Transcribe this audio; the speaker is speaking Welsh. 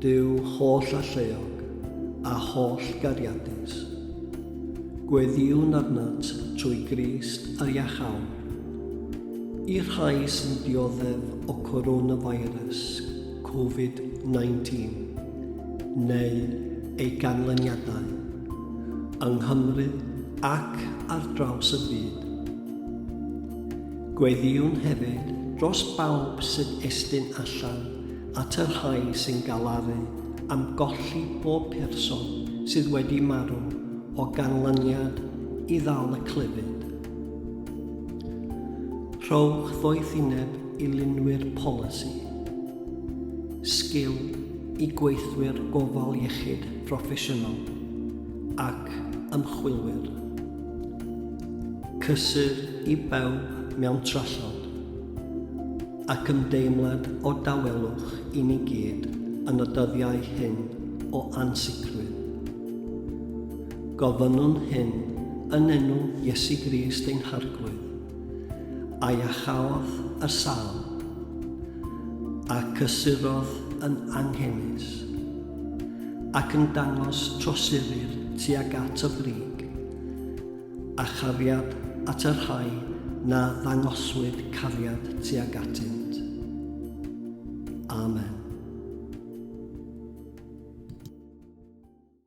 Duw holl alluog a holl gariadus, gweddïwn arnat trwy Grist a Iachawr. I'r rhai sy'n dioddef o Coronavirus, Covid 19, neu ei ganlyniadau, yng Nghymru ac ar draws y byd, Gweddïwn hefyd dros bawb sy'n estyn allan at y rhai sy'n galaru am golli pob person sydd wedi marw o ganlyniad i ddal y clefyd. Rhowch ddoethineb i lunwyr polisi, sgil i gweithwyr gofal iechyd proffesiynol ac ymchwilwyr. Cysur i bawb mewn trallod, ac ymdeimlad o dawelwch i ni gyd yn y dyddiau hyn o ansicrwydd. Gofynnwn hyn yn enw Iesu Grist ein Harglwydd, a iacháodd y sal, a cysurodd yn anghenus, ac yn dangos trosurir tuag at y frig, a chariad at y rhai na ddangoswyd cariad tuag atynt. Amen.